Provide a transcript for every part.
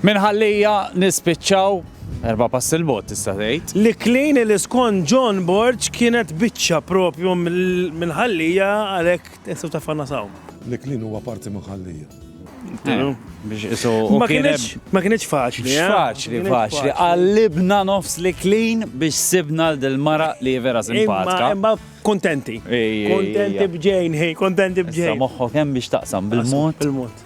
Minn Ħal-Lija nispiċċaw erba' passi 'l bogħod tista' tgħid. L-Iklin li skont John Borg kienet biċċa propju minn Ħal-Lija għalhekk tistgħu tafgħanna saw. L-Iklin huwa parti minn Ħal-Lija. Ma kinitx faċli. Mhux faċli, faċli. Qallibna nofs l-Iklin biex sibna lil din mara li hi vera simpatika. Imma kuntenti. Kuntenti b'ġejn, kontenti b'ġejn. Issa moħħok hemm biex taqsam bil-mod.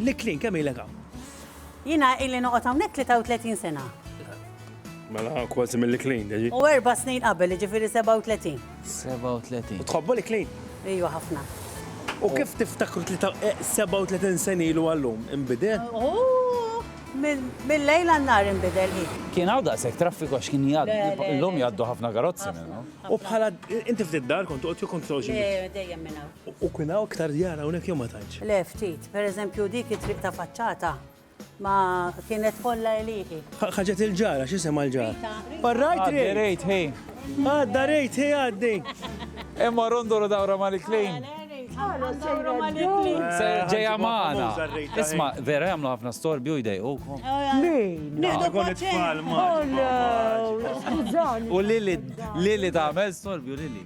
L-Iklin, kemm ilek hawn? Jiena ili noqgħod hawnhekk 33 sena. Mela kważi mill-Iklin, ġi. U erba' snin qabel, jiġifieri 37. 37. Tħobbu l-Iklin? Ejwa ħafna. U kif tiftakru 37 eh, sen ilu għallum, imbidel? Mill-lejl għannar imbidel hi. Kien għaw daqsek traffiku għax kien jgħaddu, l-lum jgħaddu ħafna karozzi minnu. U bħala, inti ftit dar kont uqt jukont soċi. Dejjem minna. U kien hawn iktar djar hawnhekk jew ma tantx? Le, ftit. Per eżempju, dik it-triq ta' faċċata ma kienet kollha għelieqi. Ħaġet il-ġar, għax isemha l-ġar. Farrajt Rejt! Għaddi Rejt Hi! Għadda Rejt Hi għaddi! Imma rondolo dawra Mari Clean! Ġejja magħna! Isma', vera jagħmlu ħafna storbju u jdejqukom? Min? Nieħdu paċenzja! Skużani! U Lili, Lili tagħmel storbju, Lili?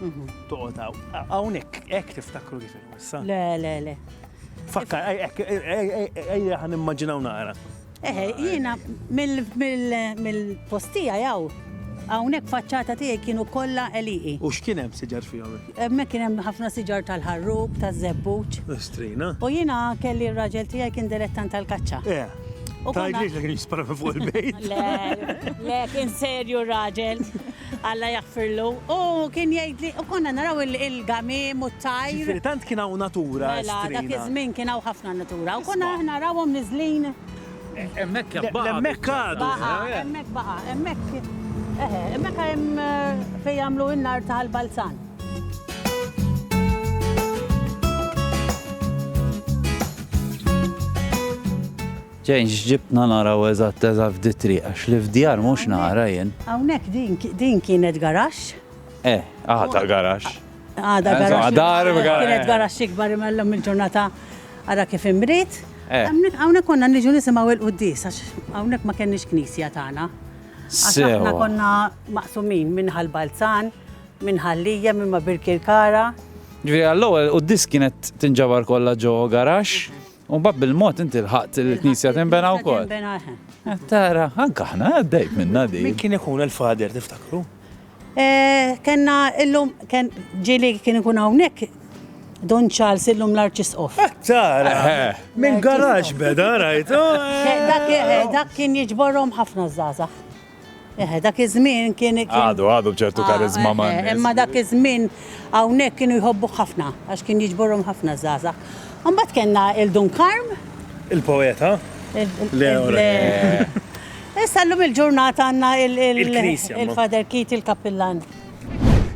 Toqgħod hawn. Hawnhekk hekk tiftakru kif il-wissa. Le, le, le. Fakkar, hekk, ejja ħan immaġinaw naqra. Eħe, jiena mill-postija jaw. Hawnhekk faċċata tiegħi kienu kollha eliqi. U x'kien hemm siġar fihom? Hemmhekk kien hemm ħafna siġar tal-ħarrub, taż-żebbuġ. Strina. U jiena kelli r-raġel tiegħi kien dilettant tal-kaċċa. Eh. Tajdlix li kien jispara fuq il-bejt. Le, le, kien serju r-raġel. Alla jaħfirlu, hu kien jgħidli, u konna naraw il-gamiem u t-tajr. Ġifieri tant kien hawn natura estrina. Mela, dak iż-żmien kien hawn ħafna natura u konna aħna narawhom niżlin. Hemmhekk hemm baqa'. Hemmhekk għadu. Baqa', hemmhekk baqa', hemmhekk, eħe, hemmhekk hemm fejn jagħmlu n-nar ta' l-balzan. Jane x'ġibtna naraw eżatt eżatt f'di triq għax li f'djar mhux nara jien. Hawnhekk din din kienet garaxx. Eh, għadha garaxx. Għadha garaxx. Insomma dar b'garaxx. Kienet garaxx ikbar imma llum il-ġurnata ara kif imriet. Hawnhekk hawnhekk konna niġu nisimgħu il-quddies għax hawnhekk ma kenniex knisja tagħna. Għax aħna konna maqsumin minn Ħal Balzan, minn Ħal Lijem imma Birkirkara. Ġifieri għall-ewwel quddies kienet tinġabar kollha ġo garaxx U mbagħad bil-mod inti lħaqt li l-knisja tinbena wkoll. Tinbena eħe. Tara, anke aħna għaddejt minna din. Min kien ikun il-fader tiftakru? Eh, kenna illum, ken ġili kien ikun hawnhekk Don Charles illum l-Arċisqof. Eh, tara, eh. minn garax beda, rajt. Dak kien jiġborhom ħafna żgħażagħ. Eħe, dak iż-żmien kien. Għadu, għadu bċertu karizma ma. Imma dak iż-żmien hawnhekk kienu jħobbuh ħafna għax kien jiġborhom ħafna żgħażagħ. Imbagħad kellna il-Dun Karm. Il-poeta? Le, le. Issa llum il-ġurnata għandna il-Father Keith il-Kappillan.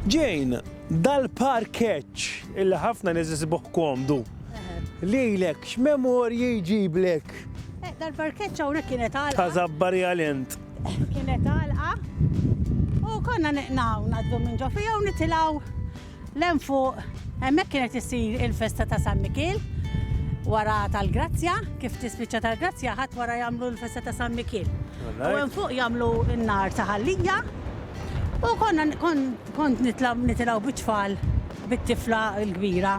Jane, dal-parkeġġ illi ħafna nies isibuh komdu. Lilek x'memorji jġiblek? Eh, dal-parkeċċa hawnhekk kienet għalqa. Ta' zabbari għal int. Kienet għalqa. U konna neqnaw naddu minn ġo fija u nitilaw l-hemm fuq hemmhekk kienet issir il-festa ta' San Mikil wara tal-Grazzja, kif tispiċċa tal-Grazzja ħadd wara jagħmlu l-festa ta' San Mikil. U hemm fuq jagħmlu n-nar ta' ħallija u konna kont nitilgħu biċfal bit-tifla l-kbira.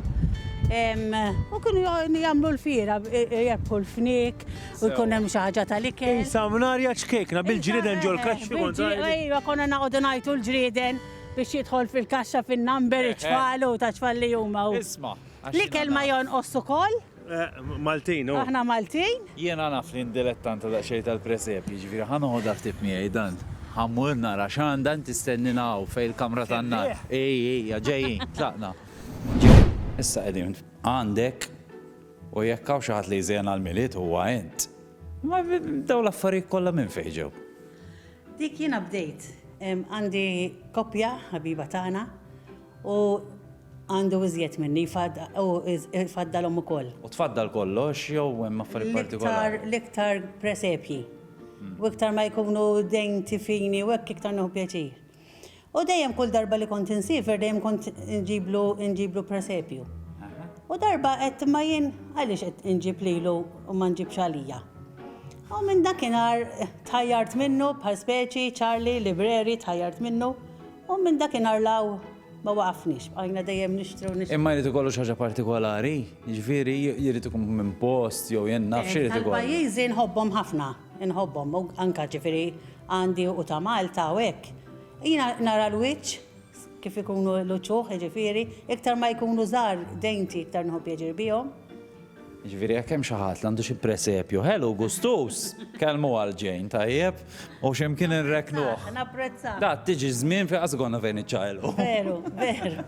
U kienu jagħmlu l-fiera, irebbħu l-fniek u jkun hemm xi ħaġa tal-ikel. Qisha mnarja ċkejkna bil-ġrieden ġol-kaxxi. Ejwa, konna noqogħdu ngħajtu l-ġrieden biex jidħol fil-kaxxa fin-number, it-tfal u ta' tfal li huma. Isma'. L-ikel ma jonqosx ukoll? Maltin hu. Aħna Maltin. Jiena naf li ndilettanta daqsxejn tal-presepji, jiġifieri ħa noħodha ftit miegħi dan. Ħa mmur nara x'għandha inti stennina hawn fejn il-kamra tan-nar. Hi hija ġejjin, tlaqna. Ġej. Issa qegħdin għandek u jekk hawn xi ħadd li jżejjen għall-Milied huwa int. Imma dawn l-affarijiet kollha minn fejn ġew? Dik jiena bdejt. Għandi koppja ħabiba tagħna. U għandu iżjed minni, u jfaddalhom ukoll. U tfaddal kollox jew hemm affarijiet partikolari? L-iktar presepji. Hmm. U iktar ma jkunu dejn tifini u hekk iktar nieħu pjaċir. U dejjem kull darba li kont insifer dejjem kont inġiblu inġiblu presepju. U darba qed ma jien għaliex qed inġib lilu u ma nġibx għalija. U minn dakinhar tħajjart minnu bħal speċi Charlie Libreri tħajjart minnu. U minn dakinhar 'l hawn ma waqafniex, bqajna dejjem nixtru u nixtru. Imma jrid ikollu xi ħaġa partikolari? Jiġifieri jrid ikun minn post jew jien naf x'irid ikollu. Tal-pajjiżi nħobbhom ħafna, inħobbhom u anke jiġifieri għandi u ta' Malta u hekk. Jiena nara l-wiċċ kif ikunu l-uċuħ jiġifieri, iktar ma jkunu żgħar denti iktar nħobb jeġri bihom. Jiġifieri jekk hemm xi ħadd li għandu xi presepju ħelu u gustuż, kellmu għal Jane, tajjeb? U xi mkien inrekknuh. Napprezzah. Daqt tiġi ż-żmien fejn qatt ikollna fejn niċċaqilqu. Veru, veru.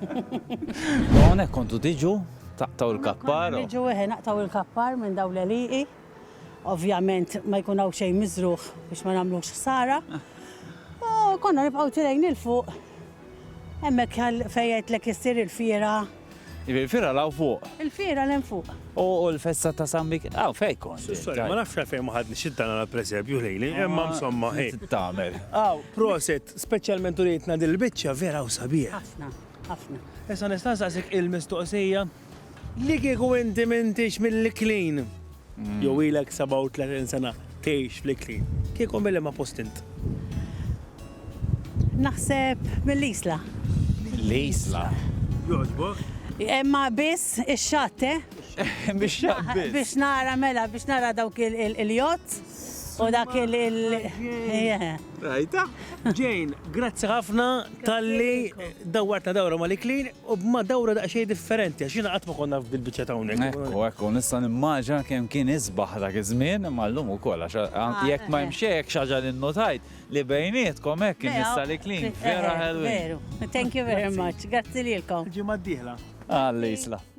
U hawnhekk kontu tiġu taqtgħu l-kappar? Konna niġu, eħe, naqtgħu l-kappar minn dawn l-għelieqi. Ovvjament ma jkun hawn xejn miżrugħ biex ma nagħmlux ħsara. U konna nibqgħu tilgħin 'il fuq, hemmhekk fejn għidtlek issir il-fiera. Il-Fiera 'l hawn fuq. Il-Fiera 'l hemm fuq. U l-festa ta' San Mik. Hawn fejn kont. Ma nafx għalfejn ma ħadniex id-dana għall-presepju ħlejli, imma msomma hi. Xi tagħmel. Hawn, proset, speċjalment urietna din il-biċċa, vera hawn sabiħ. Ħafna, ħafna. Issa nista' nsaqsik il-mistoqsija? Li kieku inti m'intix mill-Iklin. Jew ilek 37 sena tgħix fl-Iklin, kieku milli ma post int? Naħseb mill-Isla. Mill-Isla. Jogħġbok? Imma biss ix-xatt, eh? Bix-xatt biss. Biex nara mela, biex nara dawk il-jott u dak il- Rajta? Jane, grazzi ħafna talli dawwartna dawra mal-Iklin. U b'madawra daqsxejn differenti, għax jiena qatt ma kont naf bil-biċċa ta' hawnhekk. Ekku, ekku, nista' nimmaġina kemm kien isbaħ dak iż-żmien, imma llum ukoll, għax jekk ma hemm xejn hekk xi ħaġa li nnutajt li bejnietkom hekk in-nisa l-iklin vera ħelwin. Veru, thank you very much, grazzi lilkom. Il-ġimgħa d-dieħla. Alla jisla.